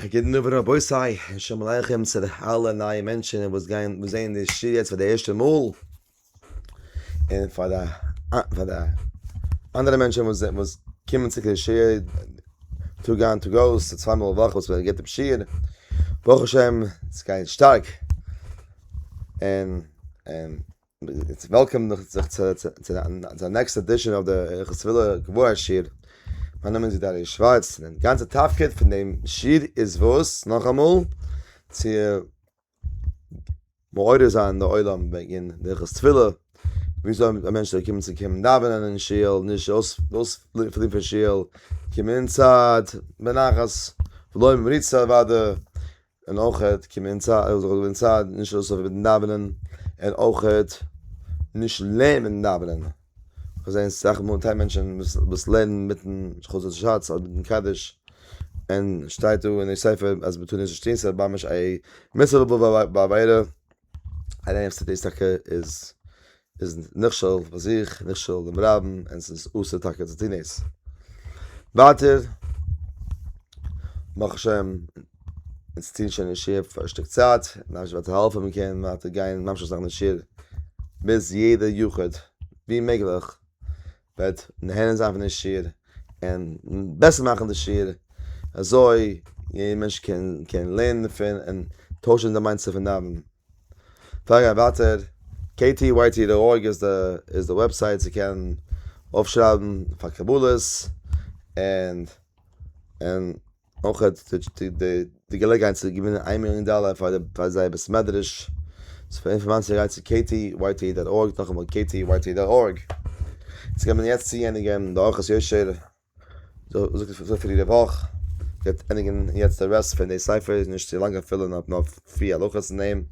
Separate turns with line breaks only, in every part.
א גוטן אווענט רבותי, און שלום עליכם צו די אלע נייע מענטשן וואס גייען און זעען די שיעור יעצט פאר די ערשטע מאל, און פאר די פאר די אנדערע מענטשן וואס זענען וואס קומען צו די שיעור טאג איין טאג אויס, די צוויי מאל א וואך וואס מען גיבט דעם שיעור, ברוך השם ס'גייט שטארק, און און. איטס וועלקאם זיך צו די נעקסט עדישאן אויף די הלכות טבילה קבוע שיעור, מיין נאמען איז געדעריש שווארץ, און די גאנצע תפקיד פון דעם שיעור איז וואס? נאכאמאל צו מעורר זיין די עולם וועגען די הלכות טבילה, וויאזוי א מענטש זאל קומען צו קומען דאווענען אין שול, נישט אויספליען פון שול, קומען אינצייט בנחת, בלויען מריצה אוואדע, און אויכעט קומען אין צייט, זאל זיך אין צייט נישט אויסלויפן מיטן דאווענען, און אויכעט נישט לערנען מיטן דאווענען, כ'זעהן סאך מאל טיי מענטשען וואס לערנען מיטן חצות שץ אדער מיטן קדיש, און שטייט דא אין די ספר אז מ'טאר נישט נישט טוהן ס'איז ממש א מצוה לעבוד בעבירה. א רענער ס'דאס טאקע איז איז נכשל ביי זיך נכשל ביים רבין און ס'איז אסור טאקע צו טון דאס. ווייטער ברוך השם אונז טוען שוין אין שיעור פאר א שטיק צייט ממש וועט העלפן מען קען ווייטער גיין ממשיך זיין אין שיעור ביז יעדע יחיד ווי מעגליך וועט נהנה זיין פון די שיעור און בעסער מאכן די שיעור אזוי יעדער מענטש קען קען לערנען דערפון און טוישן די מיינדסעט פון נארמען. פאר איך גיי ווייטער, KTYT דאט ארג איז די איז די וועבסייט צו קענען אויפשרייבן פאר קבלות און און. אויך האט די געלעגעהייט צו געווינען איין מיליאן דאלער פאר זייער בית מדרש, צו פאר אינפארמאציע גייט צו KTYT דאט ארג, נאכאמאל KTYT דאט ארג, אונז קען מען יעצט צוענדיגען די אורחות יושר, זאגט עס אזוי פאר יעדע וואך, גייט ענדיגען יעצט די רעסט פון די ספר, איז נישט צו לאנג אפילו נאר נאר פרי הלכות אין דעם,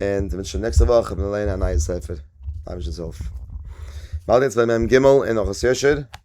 און מען וועט שוין נעקסטע וואך לערנען א נייע ספר, אייבערשטנס הילף. באלד יעצט ביי מ ג אין אורחות יושר.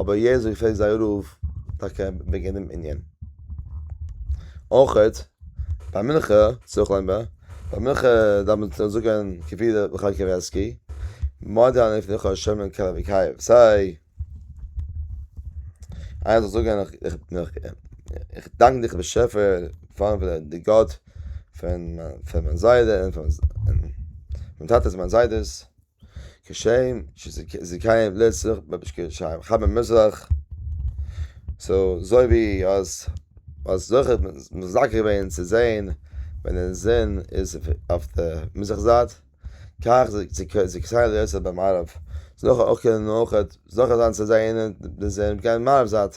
אבער יעצט ווען געפרעגט זייער רב טאקע וועגען דעם ענין. אויכעט ביי מנחה ס'איז אויך לענגבאר, ביי מנחה דארף מען זאגען כפי די מחלקת קאווערסקי, מודי אני לפניך השם אלקי ואלקיך, סיי איינער זאל זאגען איך דאנק דיך באשעפער פארן די גאט פון מיין זיידע און פון מיין טאטעס מיין זיידעס. כשם שזיכיהם לעסער במשקי ישעי' ח מ מזרח סאו זוי ווי אז אז זוכער מזכה געווען צו זעהן ווען די זון איז אויף די מזרח זייט כך זיכיהם לעסער במערב זוכה אויך קענען אויכעט זוכה זיין צו זעהן די זון גיין מערב זייט.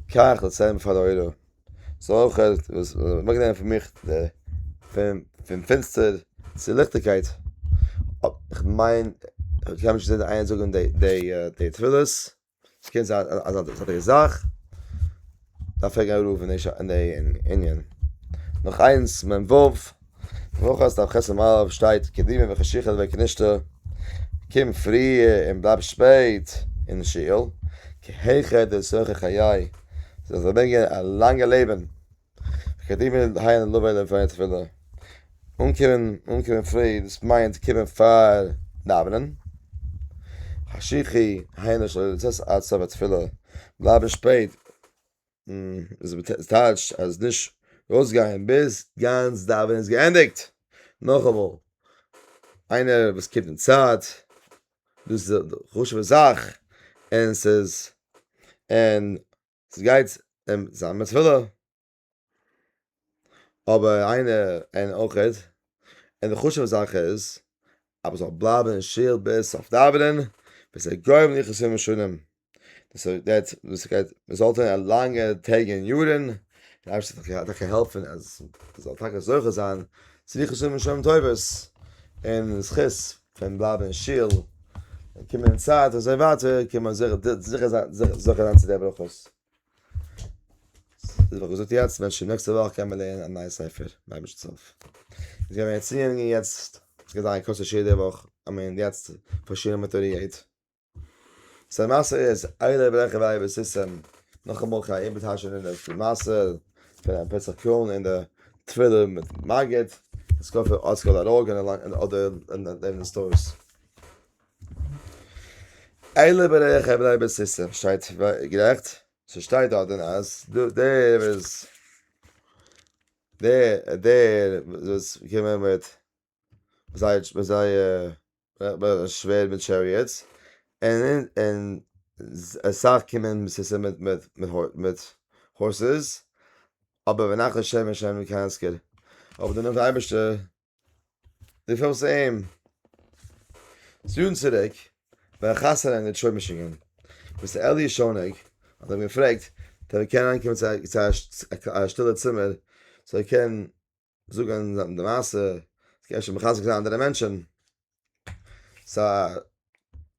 קאך די צען פאר די עולם זאל אויך אוועקנעמען פון מיך די פון פון פינסטער צו ליכטיגקייט כ'מיין כ'האב נישט געזען איינער זאגן די די תפילות ס'קען זיין אז א זייטיגע זאך דארף פרעגן א רב אין די ענין נאך איינס מ ו. וואך אז תכסה מערב שטייט קדימה וחשיכה דבק נישטא קום פריע און בלייב שפעט אין שיעור כי היכא דצרכי חיי זאלסט פארברענגען א לאנגע לעבן קדימה היין לבא אליו פאר תפילה אנקומען אנקומען פרי דאס מיינט קומען פאר דאווענען חשיכה היינו שלא לצאת עד סוף התפילה בלייבן שפעט עס טייטשט אז נישט ארויסגיין ביז גאנץ דאווענען איז געענדיגט. נאכאמאל, איינער וואס קומט אין צייט, דאס איז א חשוב'ע זאך, און עס איז, און עס גייט אים זיין מצוה. אבער איינע און אויך איז און די חשובע זאך איז אז מ'זאל בלייבן אין שול ביז סוף דאווענען וואס איז גורם ליחסים משונים דאס גייט דאס גייט רעזאלטן אין א לאנגע טעג און יארן דער אייבערשטער זאל טאקע טאקע העלפן אז מ'זאל טאקע זוכה זיין צו ליחסים משונים טובות און זכות פון בלייבן אין שול און קומען אין צייט אזוי ווייטער קען מען זיכער זיכער זיין זיכער זיין צו די ברכות. דאס האב איך געזאגט יעצט ווען שוין נעקסטע וואך קען מען לערנען א נייע ספר באישת צב ס איז געווען ערציאונג און יעצט עס גייט זיין א קורס יעדע וואך אז מען איז יעצט פארשינען מיט אור יעד סא די מעשה איז איידער די ברעכער ביי אייוועלט סיסטעם נאכאמאל קיין איבוד האשה און די מעשה פון א פסח קראן און די טבילה מיט מגיד און סקאפער ארטסקראל אראגען און אדער לערנען סטארס. אלה בריח ע בני בית סיסרא שטייט גערעכט? ס'שטייט דארט דען אז דער וואס איז דער דער וואס געווען מיט זייער מיט זייער שווערד מיט טשעריעטס און און אסאך קומען בית סיסרא מיט מיט מיט הארסעס אבער ונחל שמן שמן קאנסקער אבער דערנאך די אייבערשטער די פארמס אים זוהן צוריק ווען חסר אין די שוי משינגען ביסט אלי שונג האט אים געפרעגט דער קען אנקומען צו א שטילע צימער זאל קען זאגן די מעשה קען שוין מחזק זיין אנדערע מענטשן סא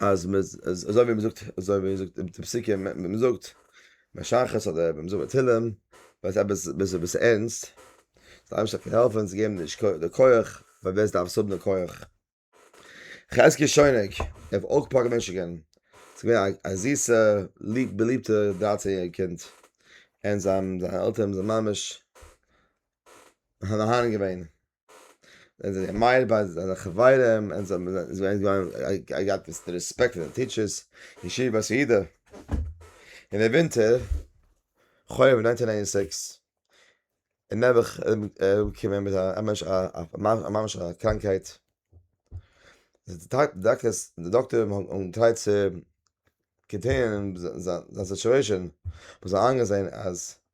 אז מע אזוי ווי מע זאגט אזוי ווי מע זאגט אין די פסוקים מע זאגט ביי שחרית אדער ווען מע זאגט ביי תהלים ווייל ס'איז עפעס ביז עפעס ערנסט זאל אייבערשטער קען העלפן זיי געבן די כח די כח פאר ווער ס'דארף עס האבן די כח חזקי שויניג ער האט אויך אפאר געוואונטשן געווען ס'איז געווען א א זיסע ליב באליבטע דרײַצן יעריגע קינד און זיי האבן זיינע עלטערן זענען ממש מהנה מהנה געווען. זענען זיי זיך מעיד ביי זייערע חברים, און זיי זענען געווען געהאט די רעספעקט פון די טיטשערס, ישיבה בית יהודה, אין די ווינטער, חורף נײַנצן הונדערט נײַן און זיבן, איז נעבעך אראפגעקומען מיט א ממש א ממש א קראנקהייט, די דאקטורים האבן געטרייט צו קאנטעינען זיין סיטועשען, זיי האבן איינגעזען אז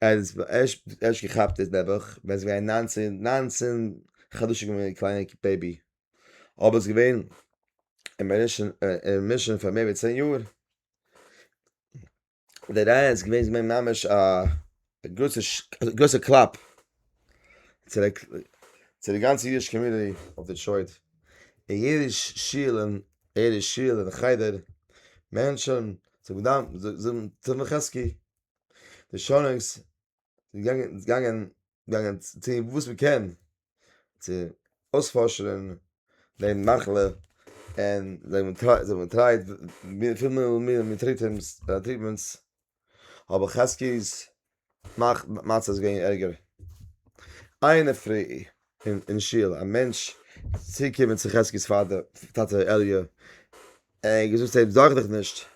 אז ערשט ערשט געכאפט איז נעבעך ווען ס'איז געווען ניינצען ניינצען חדשים געווען א קליינע בעבי אבער ס'איז געווען אין מישן אין מישן פאר מער ווי צען יאר די רייע איז געווען איז געווען ממש א גרויסע גרויסע קלאפ. צו די גאנצע אידישע קאמיוניטי אויף דעטרויט, אין יעדע שול און יעדע שול און חדר, מענטשען זאגן דאן זאגן תפלה חזקי, די שונאיגס זענען געגאנגען געגאנגען טוהן וואס מען קען צו אויספארשענען די מחלה, און זיי האבן געטרייט מיט פיל מיטל און טריטמענטס. אבער חזקי'ס מצב איז געווען ערגער. איינער פרי אין שול, א מענטש איז צוגעקומען צו חזקי'ס פאטער, טאטע אלי', און ער האט געזאגט צו אים, זארג דיך נישט,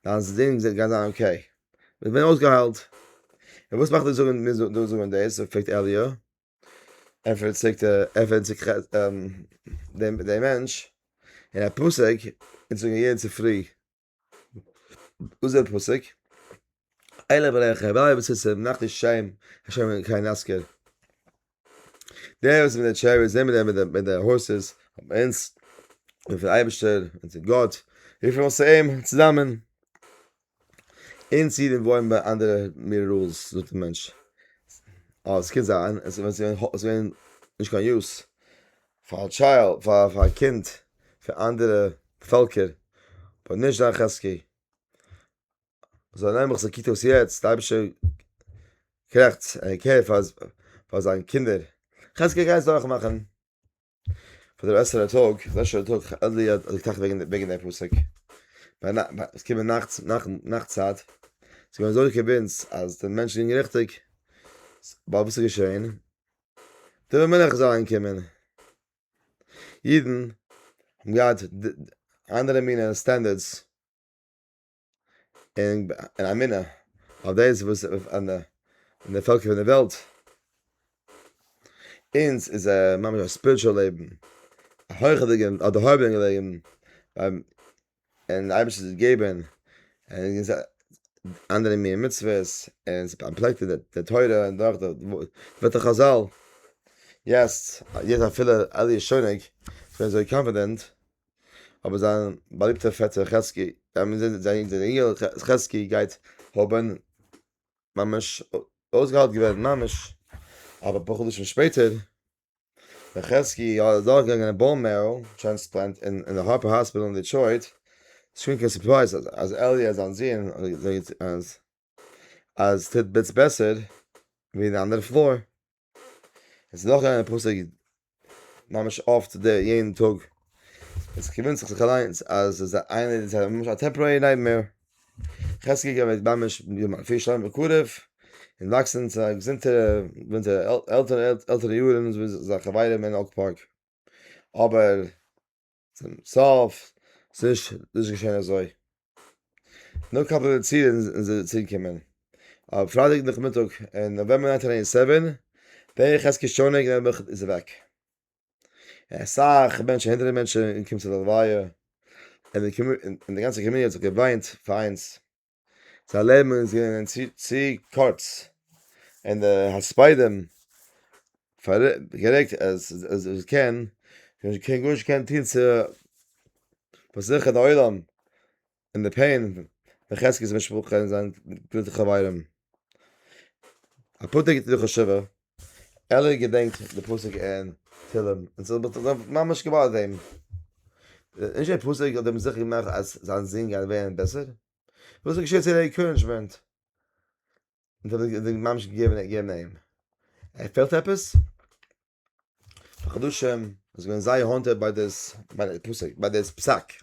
דיין זון גייט זיין אקעי, ער איז געווען אויסגעהיילט. און וואס מאכט דיר דו זאגן דאס? פרעגט אלי'. ענטפערט דער מענטש, אין א פסוק זאגן מיר יעדן צופרי, וואס איז דער פסוק? אלא בלח הבעל בסיס נאכט איז שיין השם אין קיין אסקער דער איז מיט דער טשער איז מיט דער מיט דער הויסעס אינס און פון אייבערשטער און צו גאט איך וויל עס אים צוזאמען אינס אידן וואוינען ביי אנדערע מיר רולס זאגט דער מענטש אז עס קען זיין עס ווען עס ווען נישט קיין יוס פאר א טשייל, פאר א קינד פון אנדערע פעלקער, אבער נישט זיין חזקי. זאל ער נעבעך זיך קוקט אויס יעצט די אייבישטער קרעכץ ער קעיר פאר פאר זיין קינדער, חזקי גייסט דורך מאכן פאר די בעסערע טאג, בעסערע טאג, אדלער האט געטראכט וועגן די פסוק, עס קומען נאכט נאכט צייט, ס'איז געווען אזוי קער ביי אונז אז די מענטשן ליגן ריכטיג, ווייל וואס איז געשעהן? די מלך זאל אנקומען, אידן האבן געהאט אנדערע מינע סטענדערדס און אמונה אויף דאס וואס און די פעלקער פון די וועלט, אונז איז א ממש א ספיריטשועל לעבן, א הויכערדיגע א דערהויבענע לעבן, און די אייבערשטער זאל געבן אנדערע מינע מצוות און זיי פארפלעקטן די תורה און דורך די ווערטער חזל, יעצט יעצט אפילו אלי' איז שוין אוועק איז ער אזוי קאנפידענט, אבער זיין באליבטער פעטער חזקי, זיין יונגעל חזקי גייט האבן ממש אויסגעהיילט געווען ממש אפאר חדשים שפעטער. ווען חזקי איז דורכגעגאנגען א באון מערא טרענספלענט אין די הארפער האספיטאל אין דעטרויט, איז שוין קיין סורפרייז אז עליע זיין זון אז טוט ביטס בעסער ווי די אנדערע פלאר. עס איז דורכגעגאנגען די פסק ממש אפט יעדן טאג, עס איז געוואונטזען זיך אליינס אז עס איז איינער ממש א טעמפארערי נייטמעיר. חזקי געווען ממש פיר שטיין בקרוב און וואקסן צו א געזונטע ווען די עלטערע עלטערע יארן און אזוי זיין חברים אין אויק פארק אבער צום סוף ס'נישט נישט געשען אזוי נאר קיין פובליצירן און זיי צוריקומען אויף פרייטאג נאכמיטאג אין נאוועמבער ניינטין עיטי סעווען ווער חזקי שונא געווען איז אוועק. אסאך מענטשן הונדערטער מענטשן זענען געקומען צו די לוויה און די גאנצע קאמיוניטי האט זיך געוויינט פאר אינז זיין לעבן איז געווען צו קורץ און די הספדים גערעגט אז ער קען גארנישט קען טון צו פארזיכערן די עולם אין די פעין פון חזקי'ס משפחה און זיין גוטע חברים. א פתק איז דא חשובע, עלער געדענקט די פסוק אין תהלים און ס'האט מיך זיך ממש געבאדערט אים. נישט די פסוק האט אים זיכער געמאכט אז זיין זון גייט ווערן בעסער, וואס האט געשעהט צו די ענקארענדזשמענט וואס ער האט ממש געגעבן אים? ער פעלט עפעס? חדשים איז געווען זייער האנטער ביי דאס ביי דער פסק ביי דאס פסק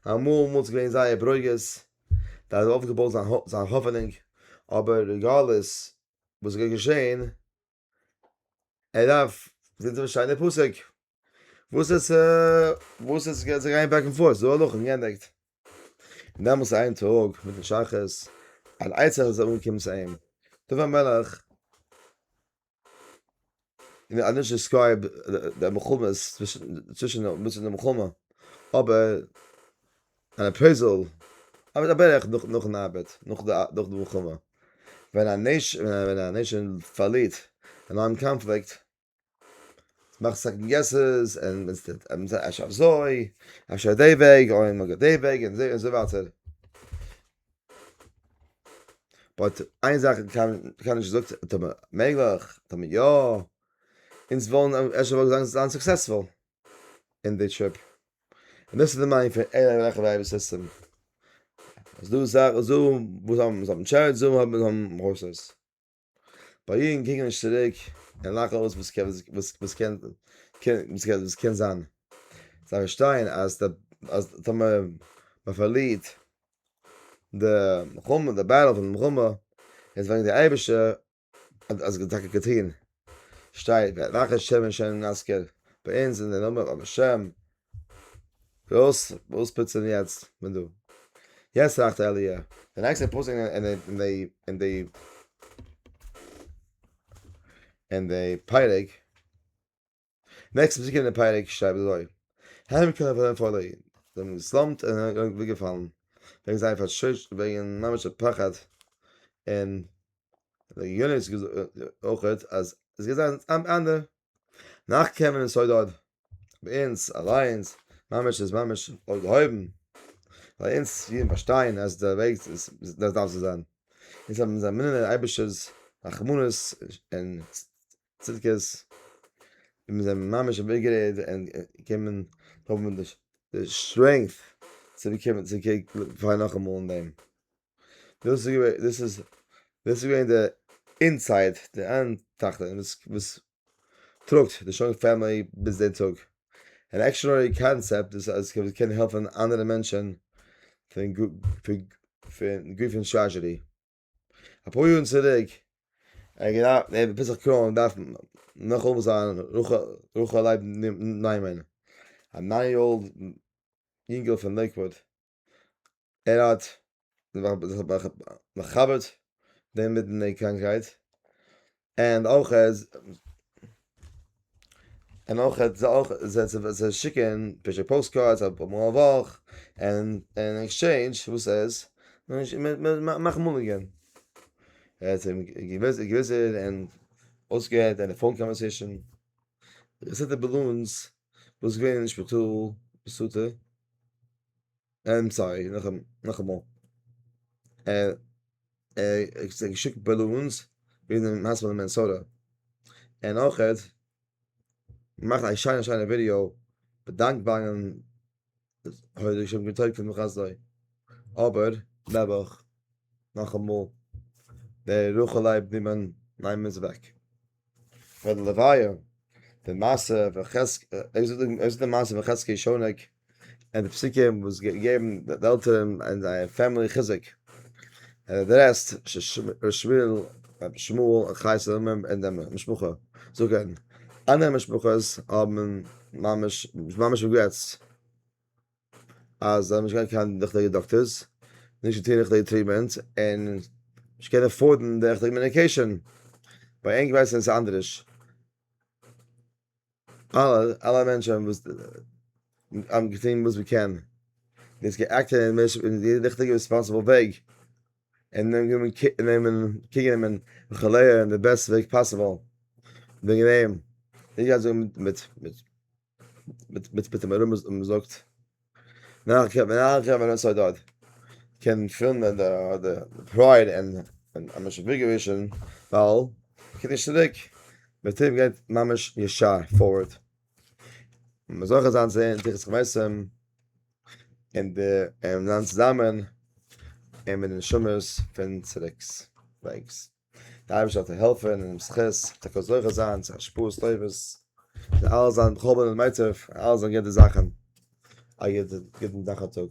אמאל אמאל איז געווען זייער ברוגז דער האט אויפגעבויט זיין זיין האפענונג אבער די גלות וואס איז געשען ער דארף זיצן פארשטיין די פסק וואס עס וואס עס גייט זיי גיין בעק און פארט זאל נאכן געענדיגט און דעמאלטס איין טאג מיטן שחרית אן עצה זאל אנקומען צו אים דוד המלך און א נישט דיסקרייב די מלחמה צווישן די אמיצן אין די מלחמה אבער אן אפרעיזעל אבער א בערך נאכן ארבעט נאך די מלחמה ווען א נעישאן פארלירט אין אן קאנפליקט מאכט סעקאנד געסעס און מען טוט אפשר אזוי אפשר די וועג אויב מען גייט די וועג און אזוי ווייטער. באט איין זאך קען איך נישט זאגט טאמער מעגליך טאמער יא אונז וואלן אפשר וואלט געזאנגט זיין סוקסעספול אין די טריפ און דאס איז די מיינד פון ער וועלכע ווייב סיסטעם אז דא זאך זום וואס האבן זאבן טשערט זום האבן האבן רוסעס. ביי אידן קוקן נישט צוריק און לאכן אויס וואס קען וואס וואס קען וואס קען זיין, זיי פארשטייען אז די אז טאמער מען פארלירט די מלחמה די בעטל פון די מלחמה איז וועגן די אייבערשטער האט עס טאקע געטון, שטייט ואחרי שמן שאינו נזכר, ביי אונז איז דער נאמען אבער שם וואס וואס פוצן יעצט מען דא? יעצט טראכט אלי' די נעקסטע פסוק אין אין די אין די אין די פרק נעקסטע פסוק אין די פרק שרייבט אזוי הם כנראה פארן פארן זיי האבן געסלאמט און זענען אוועק געפאלן וועגן זייער פארשוין וועגן ממש א פחד און די יונית אויכעט אז עס גייט זיין אן ענדע נאך קעמען עס אוידאד ביי אונז אליינס ממש איז ממש אויפגעהויבן ביי אונז אידן פארשטיין אז די וועג איז דאס דארף צו זיין אונז האבן אונזער אמונה אין אייבישטער'ס רחמנות און צדקות און מיר זענען ממש איבערגערעד און געקומען האבן די סטרענגט צו באקומען צו קעגן פארן נאכאמאל אין דעם. דאס איז געווען דאס איז דאס איז געווען די אינסייד די אנדערטע וואס וואס טראגט די שוין פאמילי ביז די טאג און עקשנערי קאנסעפט דאס אז כדי קענען העלפן אנדערע מענטשען פון פון גופן טראזשעדי אפאר יארן צוריק ער געדארפט ער וויל זיך קרוינען דארף נאך האבן זיין רח רחל לייב ניימאן א ניין יאר אולד יונגעל פון לעיקוואד. ער האט מחברט דעם מיטן די קראנקהייט, און אויך און אויך זיי שיקען פרישע פאוסט קארדס אפאר מאל א וואך, און און עקסטשעינדזש וואס איז? מיר מאכן מאנעגען, ער האט אים געוויזען און אויסגעהערט זיינע פאון קאנווערסעישאן, רעסעטע בעלאנס וואס איז געווען אין שפיטאל, איים סארי, נאכאמאל, ער האט געשיקט בעלאונס ווי די מעשה פון די מינעסאטע, און אויך געמאכט א שיינע שיינע ווידיאו באדאנקבארן אבער נעבעך, נאכאמאל, דער רחל לייב נימאן, ניין מ'איז אוועק. פארן לוויה די מעשה פון חזקי שונק און די פסוקים וואס געבן די עלטערן און זייער פעמילי חיזוק ער האט אדרעסט ר' שמואל און חי סאלאמען און די משפחה זקן אנדערע משפחות האבן ממש ממש ריגרעטס. אז זיי האבן נישט געהאט קיין ריכטיגע דאקטערס, נישט געטון ריכטיגע טריטמענט, און נישט קענען עפארדן די ריכטיגע מעדיקעישאן. ביי ענק ווייסן עס אנדעריש. אלע אלע מענטשען וואס האבן געטון וואס מען קען, מען איז געאקטען אין משך אין די ריכטיגע רעספאנסעבל וועג, און נעמען גענומען קע נעמען קעיר גענומען וכו' אין די בעסטע וועג פאסיבעל, וועגן דעם, נישט גייט זאגן מיט מיט. מיט מיט מיט דעם רמז און מ'זאגט נאך קען מען נאך קען מען נאך סאיז דארט קען פילן ווען די די פרייד און און אז מ'איז שוין געווישן ווייל קען נישט צוריק מיט דעם גייט ממש ישר פארווארד און מ'איז זוכה זיין צו הערן תורת חמסים און די און זיין צוזאמען און מיט די נשמות פון צוריק'ס וועגס. די אייבערשטער זאל דיר העלפן און דעם זכות זאלסט טאקע זוכה זיין צו השפעות טובות, זאל אלעס זיין בכל בין ומיצב, אלעס זאל גיין גוטע זאכן, א גוטן טאג.